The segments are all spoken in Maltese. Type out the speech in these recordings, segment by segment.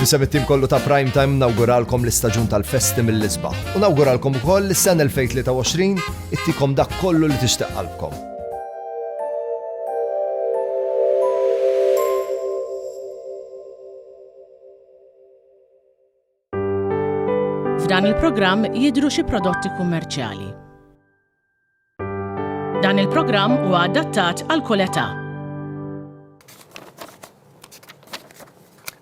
Nisem it-tim kollu ta' Prime Time nawguralkom l-istaġun tal-festi mill-isbaħ. U nawguralkom ukoll li s-sena 2023 ittikom dak kollu li tixtieq qalbkom. F'dan il-programm jidru xi prodotti kummerċjali. Dan il-programm huwa adattat għal kull età.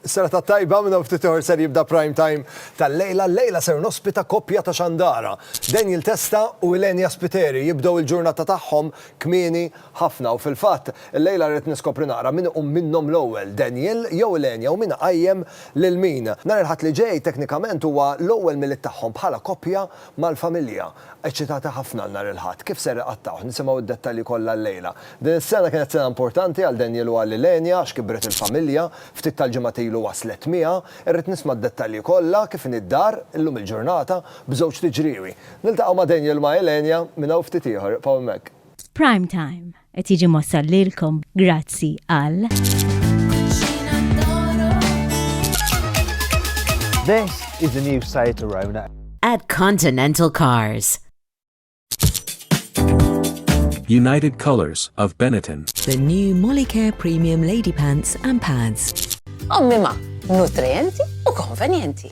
Sera ta' tajba minna ftit ieħor ser jibda prime time tal-lejla. Lejla ser nospita koppja ta' xandara. Daniel Testa u Ilenia Spiteri jibdew il-ġurnata tagħhom kmieni ħafna u fil-fatt lejla rrid niskopri naqra min iqum minnhom l-ewwel Daniel jew Ilenia u min qajjem lil min. Nhar il-Ħadd li ġej teknikament huwa l-ewwel milied tagħhom bħala koppja mal-familja. Eċċitati ħafna għal nhar il-Ħadd. Kif ser iqattgħuh? Nisimgħu d-dettalji kollha llejla. Din is-sena kienet sena importanti għal Daniel u għal Ylenia għax kibret il-familja. Ftit tal-ġimgħat ilu waslet miegħha. Irrid nisma' d-dettalji kollha, kif inhi d-dar, illum il-ġurnata, b'żewġt iġriewi. Niltaqgħu ma' Daniel u ma' Ylenia minn hawn ftit ieħor. Ibqgħu hemmhekk. Prime Time. Qed jiġi mossal lilkom grazzi għal. This is the new Seat Arona. At Continental Cars. United Colors of Benetton. The new Molicare Premium Lady Pants and Pads. Ommima, nutrienti u konvenjenti.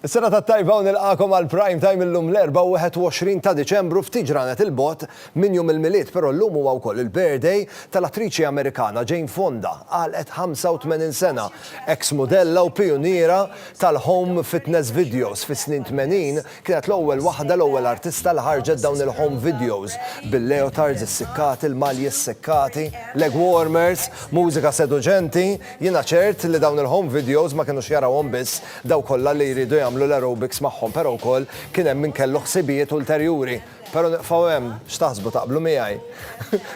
Is-sena ta' tajba u nilqakom għal prime time illum l-24 ta' Diċembru ftit ġranet il-bot minn jum il-milied, però llum huwa wkoll il-birthday tal-attriċi Amerikana Jane Fonda, għalqet 85 sena, eks mudella u pijuniera tal-home fitness videos fis-snin 80 Kienet l-ewwel waħda, l-ewwel artista li ħarġet dawn il-home videos bil-leotards issikkati, l-malji ssekkati, leg warmers, mużika seduċenti, jiena ċert li dawn il-home videos ma kienux jarawhom biss dawk kollha li jridu jagħmlu l-aerobics magħhom però wkoll kien hemm min kellu ħsibijiet ulterjuri. Però niqfgħu hemm, x'taħsbu taqblu miegħi?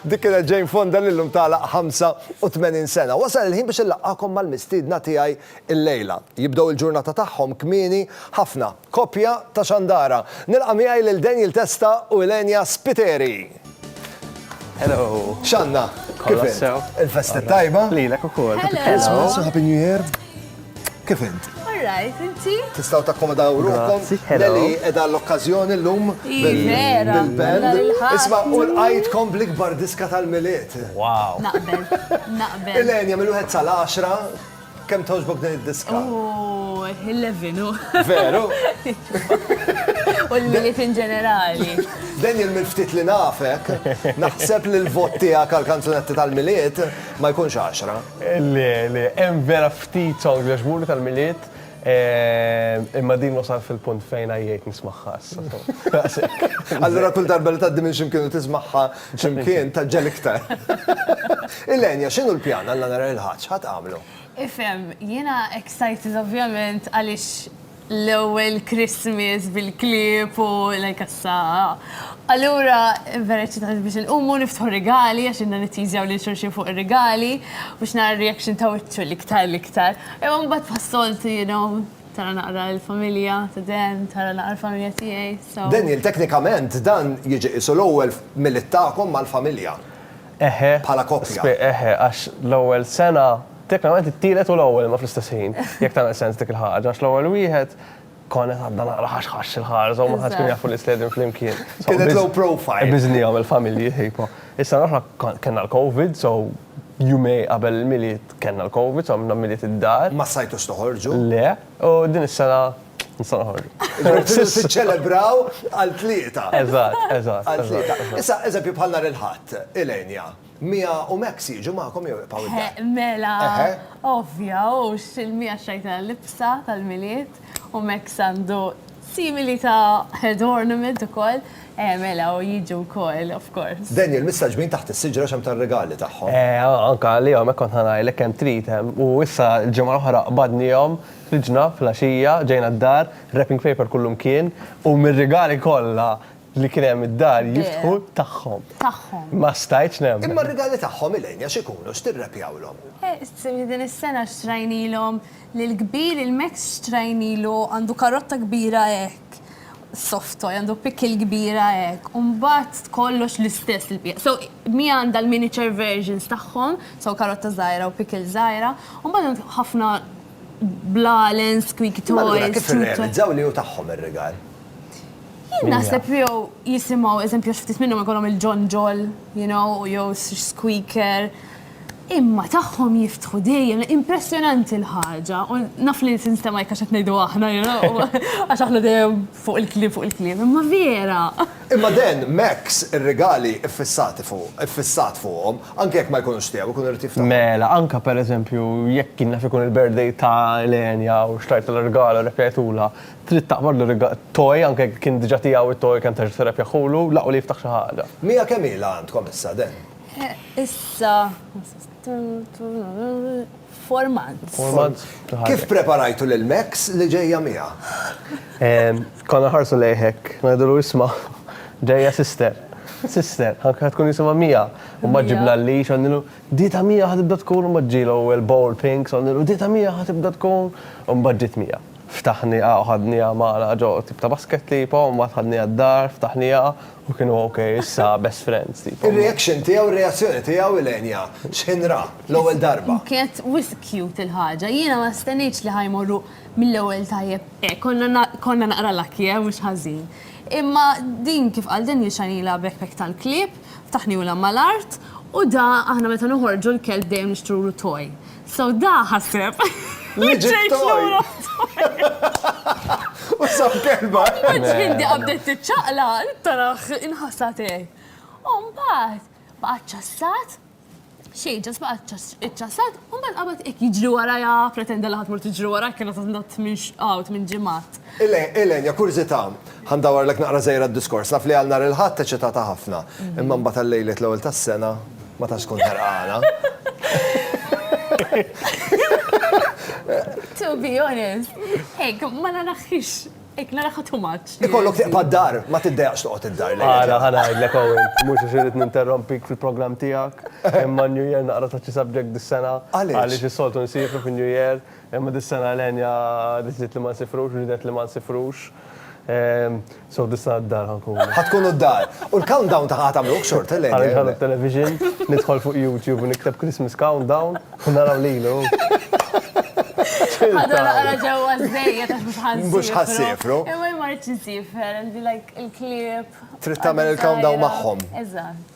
Dik kienet Jane Fonda li llum tagħlaq 85 sena. Wasal il-ħin biex inlaqqagħkom mal-mistiedna tiegħi llejla. Jibdew il-ġurnata tagħhom kmieni ħafna. Koppja ta' xandara. Nilqa' miegħi lil Daniel Testa u Ylenia Spiteri. Hello. X'għandna? Kif int? Kollox sew. Il-festa t-tajba? Lilek ukoll. Happy Christmas u Happy New Year. Kif int? All right, inti? Tistgħu takkomodaw ruħkom. Nelly qiegħda għall-okkażjoni llum bil-band. Isma' u lqajtkom bl-ikbar diska tal-Milied. Wow. Naqbel. Naqbel. Ylenia, mill-wieħed sal-għaxra, Kemm togħġbok din id-diska? Oh, 11 u. Veru? U l-miliet in ġenerali. Daniel minn ftit li nafek, naħseb li l-vot tiegħek għal kanzunetti tal-miliet ma jkunx 10. Le, le, hemm vera ftit songs li għaġbuni tal-miliet, eh, imma din wasal fil-punt fejn għajjejt nismagħha issa. Allura kull darba li tgħaddi minn ximkien u tismagħha X'imkien tgħaġġel iktar. Ilenia, x'inhu l-pjan għal nhar il-Ħadd? X'ħa tagħmlu? Ifhem, jiena excited ovvjament għaliex l-ewwel Christmas bil-klieb u like issa. Allura vera excited biex inqumu niftħu rigali għax inna nitteasew lil xulxin fuq ir-rigali biex nara r-reaction ta' wiċċu l-iktar l-iktar. Imma mbagħad bħas-soltu you know. Tara naqra l-familja ta' Dan, tara naqra l-familja tiegħi, so. Daniel, teknikament dan jiġi qisu l-ewwel milied tagħkom mal-familja. Eħe. Bħala koppja. Spe, eħe, għax l-ewwel sena, teknikament it-tielet u l-ewwel imma fl-istess ħin, jekk tagħmel sens dik il-ħaġa, għax l-ewwel wieħed konna qed għadna naqra ħax ħax il-ħarsa u ma ħadx kien jaf li sledin flimkien. Kienet low profile. Biżnihom il-familji, ħejpo. Is-sena l-oħra kellna l-Covid, so Jumej qabel il-Milied kellna l-Covid u għamilna Milied id-dar. Ma stajtux toħorġu? Le, u din is-sena nistgħu noħorġu. Tridu tiċċelebraw għal tlieta. Eżatt, eżatt. Għal tlieta. Issa, eżempju bħal nhar il-Ħadd, Ilenia, Mia u Max jiġu magħkom jew jibqgħu id-dar? Mela, ovvja, hux il-Mia xtrajtilha l-libsa tal-Milied. U Max għandu simili ta' head ornament ukoll. Eh, mela, u jiġu wkoll, of course. Daniel, missa ġbin taħt is-siġra x'hemm tar-rigali tagħhom. Eh, anke għalihom hekk kont ħa ngħidlek kemm trid. U issa l-ġimgħa l-oħra qbadnihom, ħriġna fl-għaxija, ġejna d-dar, wrapping paper kullu mkien, u mir-rigali kollha li kien hemm id-dar jiftħu tagħhom. Tagħhom. Ma stajtx nemmen. Imma r-rigali tagħhom, Elaine, x'ikunu? X'tirrepjawlhom? Eh, din is-sena xtrajnilhom Li l-kbir il-Max Strain ilu għandu karotta kbira hekk, soft toy, għandu pickle kbira hekk, u mbagħad kollox l-istess il-piega. So Mi għandha l-miniature versions tagħhom, so karotta żgħira u pickle żgħira, u mbagħad hemm ħafna blalen, squeaky toys. Imma allura kif irrealizzaw li hu tagħhom ir-rigal? Jien naħseb li jew jisimgħu, eżempju, għax ftit minnhom ikollhom il-ġonġol, you know, jew squeaker. Imma tagħhom jiftħu dejjem, impressjonanti l-ħaġa, u naf li tinstema' jekk għax qed ngħidu aħna, you know, għax aħna dejjem fuq il-kliem, fuq il-kliem, imma vera! Imma Dan, Max, ir-rigali ffissati fuq, iffissat fuqhom, anke jekk ma jkunux tiegħu, ikun irid jiftaħhom. Mela, anke per eżempju, jekk kien naf ikun il-birthday ta' Elenia u xtrajtilha rigal u repjajtulha, trid taqbadlu rigal, toy, anke jekk kien diġà tiegħu t-toy, kemm tgħix biss irrepjaħulu, l-aqwa li jiftaħ xi ħaġa. Mija kemm ilha għandkom issa, Dan? Issa, four months. Four months. Kif preparajtu lil Max li ġejja miegħha? Konna nħarsu lejħek, ngħidulu isma' ġejja sister. Sister, anke ħa tkun jisimha Mia. U mbagħad ġibna l-leash u għednilu, di ta' Mia ħa tibda tkun, u mbagħad ġielu l-bowl pink, so għednilu di ta' Mia ħa tibda tkun, u mbagħad ġiet Mia. Ftaħnieha u ħadnieha magħna ġo tip ta' basket tipo, u mbagħad ħadnieha d-dar, ftaħnieha, U kienu ok, issa best friends. Il-reaction tiegħu, il-reazzjoni tiegħu il-enja, x'ħinra, l-ewwel darba. Kienet wis cute il-ħaġa, jiena ma stennejtx li ħajmorru mill-ewwel tajjeb hekk, konna naqra lucky eh, mhux ħażin. Imma din kif qal Daniel xanilha backpack tal-klieb, ftaħniulha mal-art, u da aħna meta noħorġu l-kelb dejjem nixtrulu toy. So da ħaseb. Li ġejt lura. U sab kelba. Ġindi qabdet tiċċaqla, tarax inħassa tiegħi. U mbagħad baqgħet ċassat, xejn ġas baqgħet iċċassat, u mbagħad qabad hekk jiġri warajha, pretenda li ħadd mur tiġri warajha kienet għandha tmix għawt minn ġimgħat. Elaine, ja kurżità, ħa ndawwarlek naqra żgħira d-diskors. Naf li għal nhar il-Ħadd eċitata ħafna, imma mbagħad għal lejliet l-ewwel tas-sena ma tantx tkun ħerqana. To be honest, hekk ma naraħx, hekk naraha too much. Ikollok tibqa' d-dar, ma tiddejjaqx toqgħod id-dar. Ara, ħa ngħidlek Owen, mhux għax irrid ninterrompik fil-programm tiegħek, imma n-New Year naqra taċċi subject dis-sena. Għaliex? Għaliex is-soltu nsieħbu fin-New Year, Imma dis-sena Elenia deċidiet li ma nsifrux, ridet li ma nsifrux. So dis-sena d-dar ħa nkunu. Ħa tkunu d-dar. U l-countdown ta' ħa tagħmluh xorta Elenia? Ħa nitħalla t-television, nidħol fuq YouTube u nikteb Christmas countdown u naraw lilu. Ħa dan naqra ġewwa żejjed għax mhux ħa nsifru. Mhux ħa nsifru. Imma jien ma rridx insifher, għandi like il-klieb. Trid tagħmel il-countdown magħhom. Eżatt.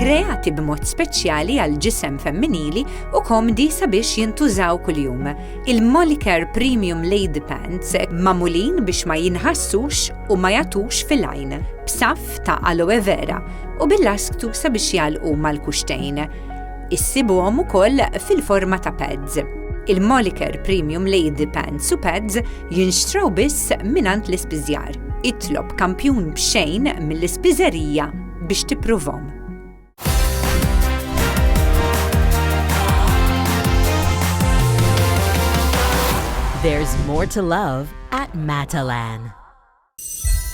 kreati b'mod speċjali għal ġisem femminili u komdi sabiex jintużaw kuljum. Il-Molicare Premium Lady Pants mamulin biex ma jinħassux u ma jatux fil-għajn, b'saf ta' aloe vera u bil-lasktu sabiex jalqu mal-kuxtejn. Issibuhom ukoll fil-forma ta' pads. Il-Moliker Premium Lady Pants u Pads jinxtraw biss minant l-ispiżjar. Itlob kampjun b'xejn mill-ispiżerija biex tippruvom. There's more to love at Matalan.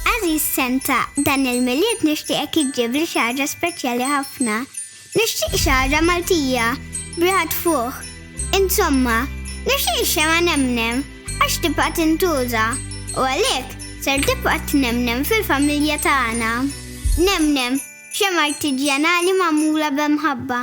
Għażiż Santa, dan il-Milied nixtieqek iġġibli xi ħaġa speċjali ħafna. Nixtieq xi ħaġa Maltija, b'riħa tfuħ. Insomma, nixtieq ix-xemgħa nemnem, għax tibqa' tintuża, u għalhekk ser tibqa' tnemnem fil-familja tagħna. Nemnem, xemgħa artiġjanali magħmula b'mħabba.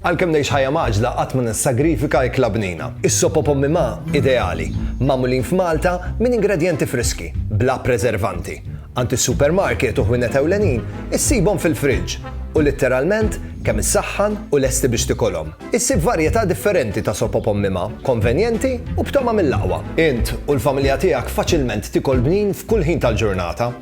Għalkemm ngħix ħajja mgħaġġla qatt ma nissagrifika ikla bnina. Is-sop u pommi ma' ideali, magħmulin f'Malta minn ingredjenti friski, bla preservanti. Għand is-supermarket u ħwienet ewlenin issibhom fil-friġġ u litteralment kemm issaħħan u lesti biex tikolhom. Issib varjetà differenti ta' sop u pommi ma', konvenjenti u b'togħma mill-aqwa. Int u l-familja tiegħek faċilment tikol bnin f'kull ħin tal-ġurnata.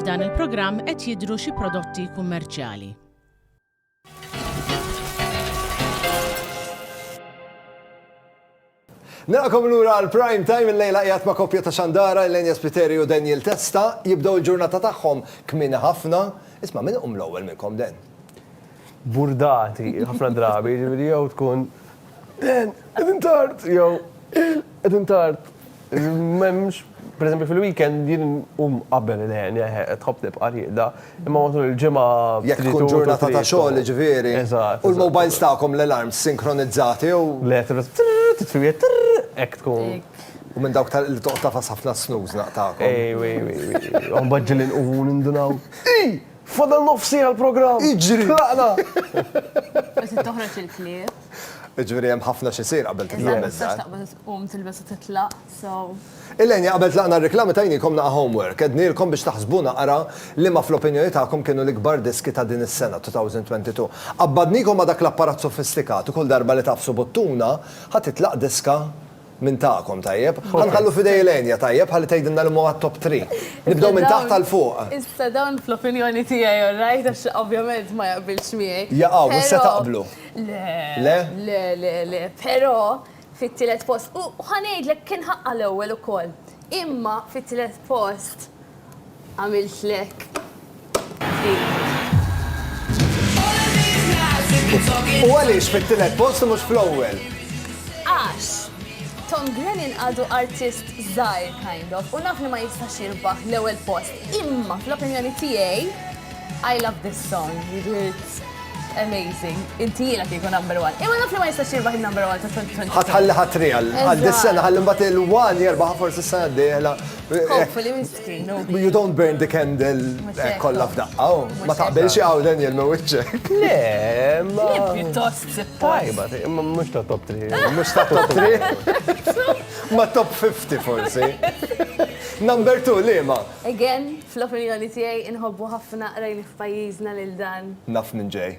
F'dan il-programm qed jidhru xi prodotti kummerċjali. Naqkom l-ura għal-prime time il-lejla jgħat ma' kopja ta' xandara l-Enja Spiteri u Daniel Testa jibdow il-ġurnata tagħhom kmin ħafna. Isma' minn um l-ewwel minnkom den. Burdati, ħafna drabi, ġifieri jew tkun Dan, qegħdin tard, jew il, qegħdin tard. M'hemmx, pereżempju fil-weekend jien um qabel il-ħen, jeħe, tħobb tibqa' rieqda, imma matul il-ġimgħa. Jekk tkun ġurnata ta' xogħol, ġifieri. Eżatt. U l-mobiles tagħkom l-alarms sinkronizzati jew? Le, titfiet, hekk tkun. U minn dawk li toqgħod tafas ħafna snooze naqtagħkom. Ej, ej, ej, ej. Mbagħad ġieli nqumu nindunaw. Ej! Fadal nofs siegħa l-programm. Iġri. Tlaqna. Bas toħroġ il-klieb. Ġviri hemm ħafna xi sir qabel titlaq mezza. Um tilbes titlaq, so. Illejn qabel tlaqna r-reklami tajnikom naqa' homework, ednilkom biex taħsbuna ara li ma fl-opinjoni tagħkom kienu l-ikbar diski ta' din is-sena 2022. Qabbadnikom ma' dak l-apparat sofistikat u kull darba li tafsu buttuna ħa titlaq diska Minn tagħkom, tajjeb. Ħa nħallu f'idej il-Enya, tajjeb, ħalli tgħidilna liema huwa t-top three. Nibdew minn taħt għal fuq. Issa dawn fl-opinjoni tiegħi all right għax ovvjament ma jaqbilx miegħi. Jaqgħu, mhux se taqblu. Le. Le? Le, le, le. Però fit-tielet post, u ħa ngħidlek kien ħaqqha l-ewwel ukoll. Imma fit-tielet post Għamiltlek. U għaliex fit-tielet post mhux fl-ewwel? Għax. Tom Grennan għadu artist zaħir, kind of, u naf li ma jistax jirbaħ l ewwel post. Imma, fl-opinjoni tijaj, I love this song, it's amazing. Inti jena kieku number one. Imma naf li ma jistax jirbaħ il-number one ta' 2020. Ħatħalli ħatri għal dis-sena, ħalli mbagħad il-one jirbaħ forsi s-sena d-dieħla. Hopefully minn sittin, no. You don't burn the candle eh, kollha f'daqqa, oh. ma taqbilx hawn Daniel ma wiċċek. Le, ma. Le pjuttost tajba, imma mhux ta' top 3. Ah. Mhux ta' top 3. Ma top 50 forsi. Number 2 liema. Again, fl-opinjoni tiegħi inħobbu ħafna qrajni f'pajjiżna lil dan. Naf minn ġej.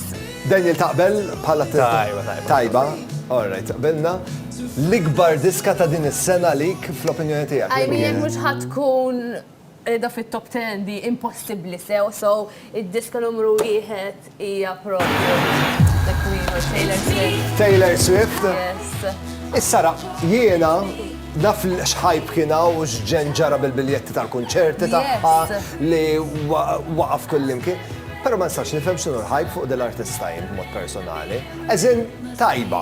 Daniel taqbel bħala Tajba, tajba. Tajba, alright, taqbilna. L-ikbar diska ta' din is-sena lik fl-opinjoni tiegħek. I mean, mhux ħatkun da fit-top 10 di impossibbli sew, so id-diska numru wieħed hija propju The Queen u Taylor Swift. Taylor Swift. Yes. Issa ra, jiena naf li xħajb kiena u xġen ġara bil-biljetti tal-kunċerti tagħha li waqaf kullimkien. Pero ma nistax nifhem x'inhu l-ħajb fuq din l-artista jien b'mod personali. Eżin tajba.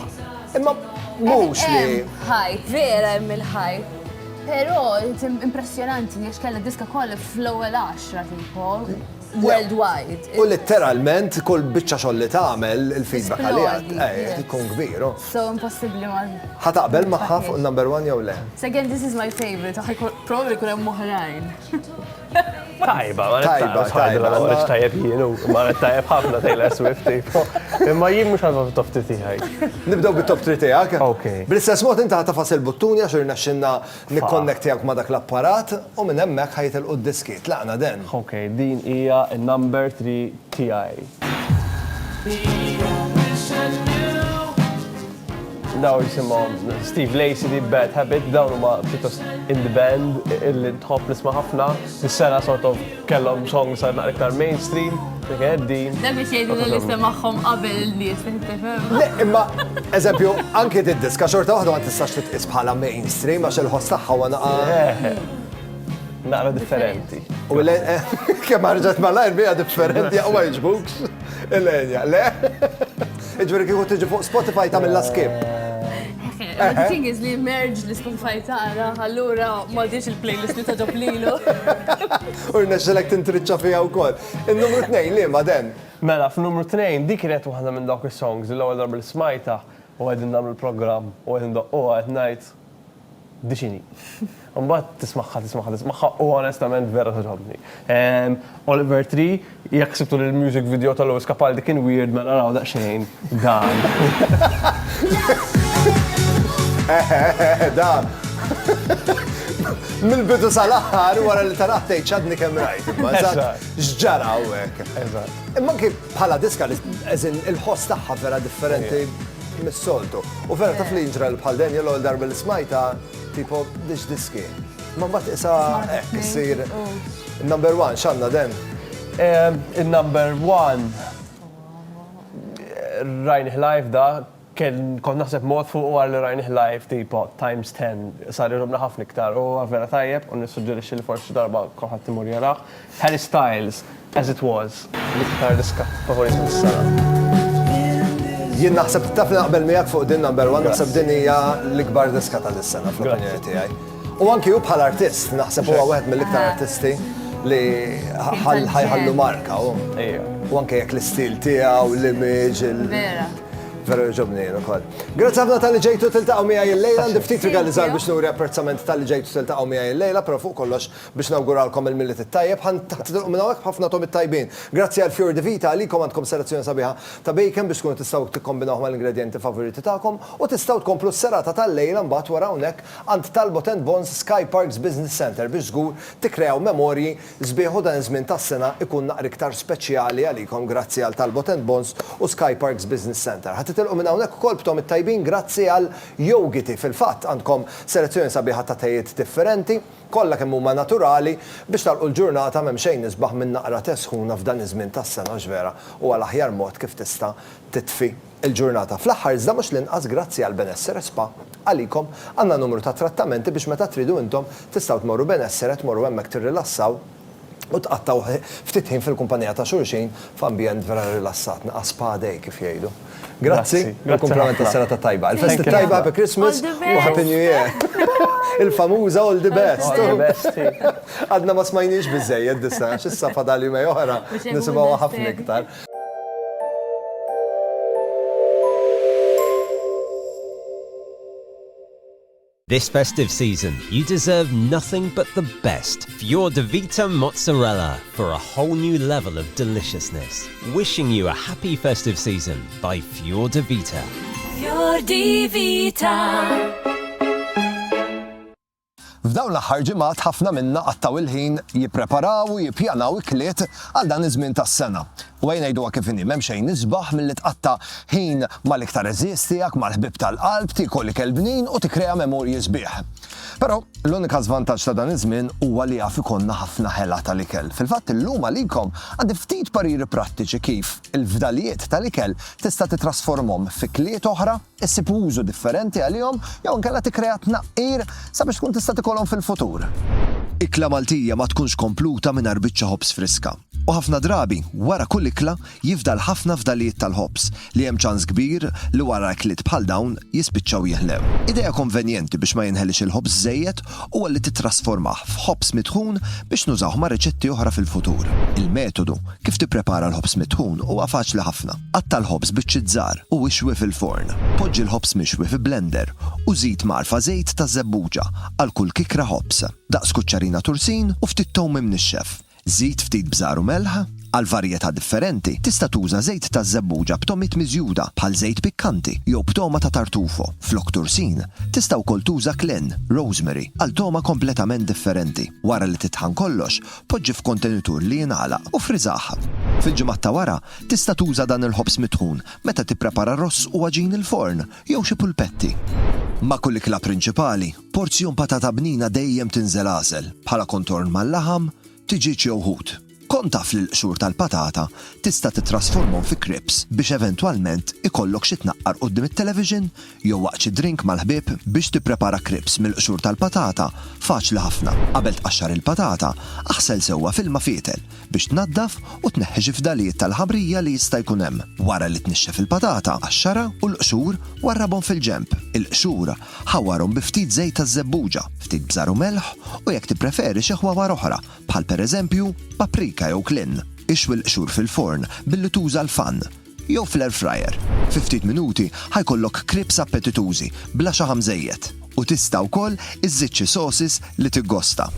Imma mhux li. Ħajb, vera hemm il-ħajb. Però impressjonanti għax kellha diska kollha fl-ewwel 10 tipo worldwide. U letteralment kull biċċa xogħol li tagħmel il-feedback għalija eh, ikun kbir. Oh. So impossibbli ma. Ħa taqbel magħha fuq number one jew le? Second this is my favorite, probably kun hemm oħrajn. Tajba, ma tajba, tajba, ma għarriċ tajab jienu, ma għarriċ tajab ħafna Taylor Swift, tipo. Imma jien mux għadma fit-top 3 tijaj. Nibdaw bit-top 3 tijak. Ok. Bil-istess mod inta ħatafas il-buttuni għax irna xinna nikkonnektijak ma dak l-apparat u minn emmek ħajt il-qud diski. Tlaqna den. Ok, din ija number 3 tiegħi. Daw jisimhom Steve Lacey di Bad Habit, dawn huma pjuttost in the band illi tħobb nisma' ħafna. Is-sena sort of kellhom song sar naqra iktar mainstream, dik din. Dan biex jgħidu li l-isem magħhom qabel il-nies Le, imma eżempju, anke d-diska xorta waħda ma tistax titqis bħala mainstream għax il-ħoss tagħha naqa. Eh. Naqra differenti. U l kemm ħarġet malajr bija differenti u ma jiġbukx. Il-enja, le? Iġveri kieku tiġi fuq Spotify ta' mill skip. The thing is li merge li Spotify tara, allura ma diex il-playlist li taġob lilu. U rnexxelek tintriċċa fija wkoll. Il-numru 2 li ma den. Mela, f'numru 2 dik kienet waħda minn dawk is-songs li l-ewwel darba li smajta u qegħdin nagħmlu l-programm u qegħdin doqquha qed ngħid Dixini. Mbagħad tismagħha, tismagħha, tismagħha u onestament vera togħġobni. Ehm, Oliver Tree, jekk sibtu li l-music video ta' Lewis Capaldi kien weird mela naraw daqsxejn dan. Dan. Mill-bidu sal-aħħar wara li taraħ tgħid x'għadni kemm rajt. imma eżatt, Eżatt. X'ġara hawnhekk. Eżatt. Imma anki bħala diska li eżin il-ħoss tagħha vera differenti mis-soltu. U vera taf li jinġra bħal Daniel l-ewwel darba li smajta tipo dix diski. Ma mbagħad isa hekk issir number one x'għandna den? Il-number one rajnih live da kont naħseb mod fuq għar li rajnih live tipo times 10 sar irrobna ħafna iktar u vera tajjeb u nissuġġerixxi li forsi darba kulħadd imur jaraħ. Harry Styles, As It Was, l-iktar riskatt favorit mis-sala. Jien naħseb taf li naqbel miegħek fuq din number one, naħseb din hija l-ikbar diska tal-sena fl-opinjoni tiegħi. U anki hu bħal artist, naħseb huwa wieħed mill-iktar ah. artisti li ħajħallu marka u. U anke jekk l-istil tiegħu, l-image, Veru ġobni jenu kol. Grazie għabna tal-li ġejtu tiltaqaw mija il-lejla, ndiftit regalizzar biex nuri apprezzament tal-li ġejtu tiltaqaw mija il-lejla, pero fuq kollox Biex nawguralkom il-Milied it-Tajjeb, ħa ntilqu minn hawnhekk b'ħafna togħmiet tajbin. Grazzi għal Fior di Vita, għalikom għandkom selezzjoni sabiħa ta' bacon biex tkunu tistgħu tikkombinawh mal-ingredjenti favoriti tagħkom u tistgħu tkomplu s-serata tal-lejla mbagħad wara hawnhekk għand Talbot and Bon's Sky Parks Business Centre biex żgur tikkreaw memorji sbieħ u dan iż-żmien tas-sena jkun naqra iktar speċjali għalikom grazzi għal Talbot and Bon's u Sky Parks Business Centre. Ħa titilqu minn hawnhekk ukoll b'togħmiet tajbin grazzi għal Yoghity, fil-fatt għandkom selezzjoni sabiħa ta' tejiet differenti. kollha kemm huma naturali biex nagħlqu l-ġurnata m'hemm xejn isbaħ minn naqra te sħuna f'dan iż-żmien tas-sena għax vera huwa l-aħjar mod kif tista' titfi l-ġurnata. Fl-aħħar iżda mhux l-inqas grazzi għal Benessere Spa għalikom għandna numru ta' trattamenti biex meta tridu intom tistgħu tmorru Benessere tmorru hemmhekk tirrilassaw u tqattgħu ftit ħin fil-kumpanija ta' xulxin f'ambjent vera rilassat, naqas spa day kif jgħidu. Grazzi u kumplament tas-serata tajba. Il-festi t-tajba, Happy Christmas u Happy New Year. Il-famuża All the best. Għadna ma smajnihiex biżżejjed dis-sena għax issa fadal jumejn oħra nisimgħuha ħafna iktar. This festive season, you deserve nothing but the best for your Davita Mozzarella for a whole new level of deliciousness. Wishing you a happy festive season by Fior Davita. Fior Davita. F'dawn l-aħħar ġimgħat ħafna minna qattgħu l-ħin jippreparaw u jippjanaw ikliet għal dan iż-żmien tas-sena. U ejja ngħiduha kif inhi, m'hemm xejn isbaħ milli tqatta' ħin mal-iktar għeżież tiegħek, mal-ħbieb tal-qalb, tiekol ikel bnin u tikkrea memorji sbieħ. Però, l-unika żvantaġġ ta' dan iż-żmien huwa li jaf ikollna ħafna ħela tal-ikel. Fil-fatt, illum għalikom għandi ftit pariri prattiċi kif il-fdalijiet tal-ikel tista' titrasformhom fi kliet oħra, issib użu differenti għalihom jew inkella tikkrea tnaqqir sabiex tkun tista' tikolhom fil-futur. Ikla Maltija ma tkunx kompluta mingħajr biċċa ħobż friska. U ħafna drabi, wara kull ikla, jifdal ħafna fdalijiet tal-ħobż li hemm ċans kbir li wara ikliet bħal dawn jispiċċaw jeħlew. Idea konvenjenti biex ma jinħeliex il-ħobż żejjed huwa li tittrasformah f'ħobż mitħun biex nużawh ma' riċetti oħra fil-futur. Il-metodu kif tipprepara l-ħobż mitħun huwa faċli ħafna. Qatta' l-ħobż biċċiet żgħar u ixwi fil-forn. Poġġi l-ħobż mixwi fi blender u żid mgħarfa żejt ta' żebbuġa għal kull kikra ħobż, daqs kuċċarina tursin u ftit towm imnixxef. Żid ftit bżar u melħ, għal varjetà differenti, tista' tuża żejt taż-żebbuġa b'togħmiet miżjuda bħal żejt pikkanti jew b'togħma ta' tartufo. Flok tursin, tista' wkoll tuża klin, rosemary, għal togħma kompletament differenti. Wara li titħan kollox, poġġi f'kontenitur li jingħalaq u friżah. Fil-ġimgħat ta' wara, tista' tuża dan il-ħobż mitħun meta tipprepara ross u għaġin il-forn jew xi pulpetti. Ma' kull ikla prinċipali, Porzjon patata bnina dejjem tinżel għasel, bħala kontorn mal-laħam, tiġieġ jew ħut. Kont taf li l-qsur tal-patata tista' tittrasformhom fi krips biex eventwalment ikollok xi tnaqqar quddiem it-television jew waqt xi drink mal-ħbieb? Biex tipprepara krips mill-qsur tal-patata faċli ħafna. Qabel tqaxxar il-patata, aħsel sewwa f'ilma fietel biex tnaddaf u tneħħi xi fdalijiet tal-ħamrija li jista' jkun hemm. Wara li tnixxef il-patata, qaxxarha u l-qsur warrabhom fil-ġenb. Il-qsur Ħawwarhom bi ftit żejt taż-żebbuġa, ftit bżar u melħ, u jekk tippreferi xi ħwawar oħra, bħal pereżempju, paprika jew klin. Ixwi l-qxur fil-forn billi tuża l-fan, jew fl-air fryer. Fi ftit minuti ħa jkollok crepes appetitużi bla xi ħamżejjed, u tista' wkoll iżżid xi sauces li tiggosta.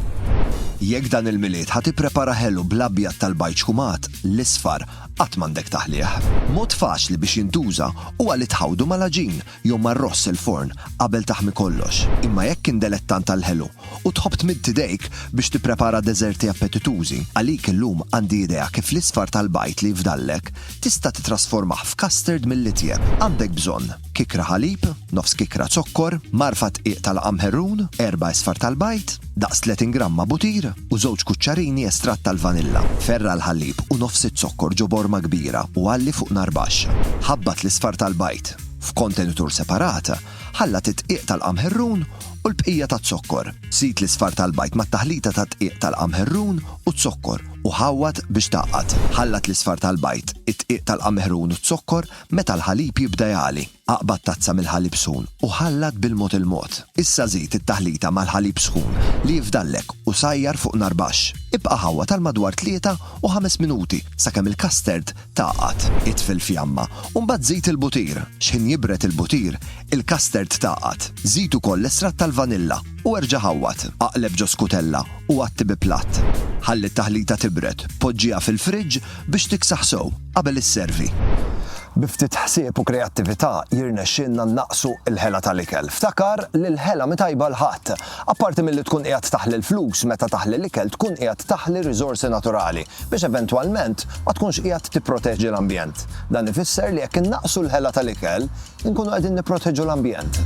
Jekk dan il-Milied ħa tipprepara ħelu bl-abjad tal-bajd xkumat, l-isfar qatt m'għandek taħlih. Mod faċli biex jintuża huwa li tħawdu mal-għaġin jew mar-ross il-forn qabel taħmi kollox. Imma jekk kien delettant tal-ħelu u tħobb tmidd idejk biex tipprepara deżerti appetitużi, għalik illum għandi idea kif l-isfar tal-bajd li jfdallek tista' titrasformah f'custard mill-itjeb. Għandek bżonn, kikra ħalib, nofs kikra zokkor, mgħarfa dqiq tal-qamħerrun, erba' isfar tal-bajd, daqs 30 gramma butir u żewġ kuċċarini estratt tal-vanilla. Ferra' l-ħalib u nofs iz-zokkor ġo borma kbira u għalli fuq nar baxx. Ħabbat l-isfar tal-bajd. F'kontenitur separat, ħallat id-dqiq tal-qamħerrun u l-bqija taz-zokkor. Żid l-isfar tal-bajd mat-taħlita tad-dqiq tal-qamħerrun u z-zokkor u ħawwad biex tgħaqqad. Ħallat l-isfar tal-bajd, id-dqiq tal-qamħerrun u z-zokkor meta l-ħalib jibda jagħli. Aqbad tazza mill-ħalib sħun u ħallat bil-mod il-mod. Issa żid it-taħlita mal-ħalib sħun li jifdallek u sajjar fuq nar baxx. Ibqa' ħawwad għal madwar tlieta u ħames minuti sakemm il-custard Tgħaqqad it-tfil fjamma u mbagħad żid il-butir. X'ħin jibred il-butir, il-custard tgħaqqad. Żid ukoll l-estratt tal-vanilla u erġa' ħawwad. Aqleb ġo skutella u għatti bi platt. Ħalli t-taħlita tibred, poġġiha fil-friġġ biex tiksaħ sew qabel isservi. Bi ftit ħsieb u kreattività jirnexxielna nnaqqsu l-ħela tal-ikel. Ftakar li l-ħela mhi tajba għal ħadd. Apparti milli tkun qiegħed taħli l-flus, meta taħli l-ikel tkun qiegħed taħli riżorsi naturali. biex eventwalment ma tkunx qiegħed tipproteġi l-ambjent. Dan ifisser li jekk innaqqsu l-ħela tal-ikel, inkunu qegħdin nipproteġu l-ambjent.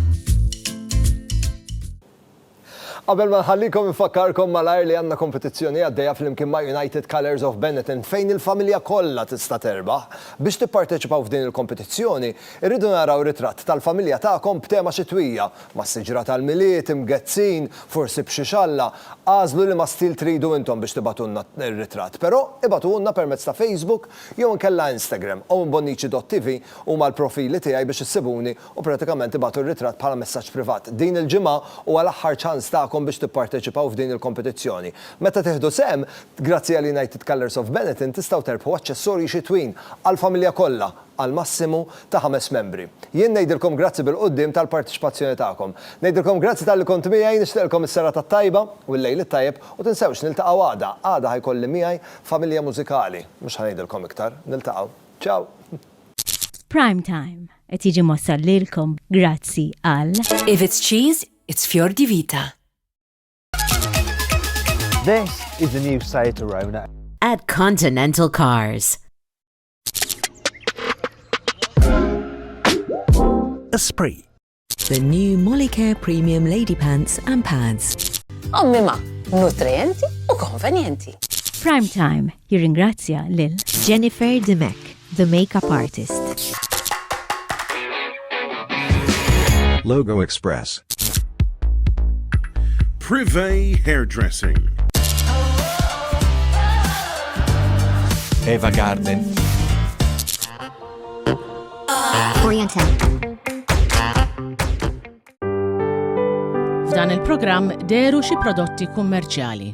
Qabel ma nħallikom infakkarkom malajr li għandna kompetizzjoni għaddejja flimkien ma' United Colours of Benetton fejn il-familja kollha tista' terbaħ. Biex tipparteċipaw f'din il-kompetizzjoni, irridu naraw ritratt tal-familja tagħkom b'tema xitwija Mas-siġra tal-Milied, imgezzin, forsi b'xi xalla, agħżlu liema stil tridu intom biex tibagħtulna r-ritratt. Però, ibagħtuhulna permezz ta' Facebook jew inkella Instagram. OwenBonnici.tv huma l-profili tiegħi biex issibuni u pratikament ibagħtu r-ritratt bħala messaġġ privat. Din il-ġimgħa huwa l-aħħar ċans tagħkom biex tipparteċipaw f'din il-kompetizzjoni. Meta tieħdu sehem, grazzi għal United Colours of Benetton tistgħu terbħu aċċessorji xitwin għall-familja kollha! għal massimu ta' ħames membri. Jien ngħidilkom grazzi bil-quddiem tal-parteċipazzjoni tagħkom. Ngħidilkom grazzi talli kont miegħi, nixtieqilkom is-serata t-tajba u l-lejl it-tajjeb u tinsewx niltaqgħu għada, għada ħa jkolli miegħi familja mużikali, mhux ħa ngħidilkom iktar, niltaqgħu. Ciao! Prime Time qed jiġi mwassal lilkom grazzi għal. If it's cheese, it's Fior di Vita. This is the new Seat Arona. At Continental Cars. Esprit. The new Molicare Premium Lady Pants and Pads. Ommi ma, nutrienti u konvenjenti. Prime Time jirringrazzja lil Jennifer Dimek, the makeup artist. Logo Express. Privé Hairdressing. Eva Garden. Oriental. F'dan il-programm deru xi prodotti kummerċjali.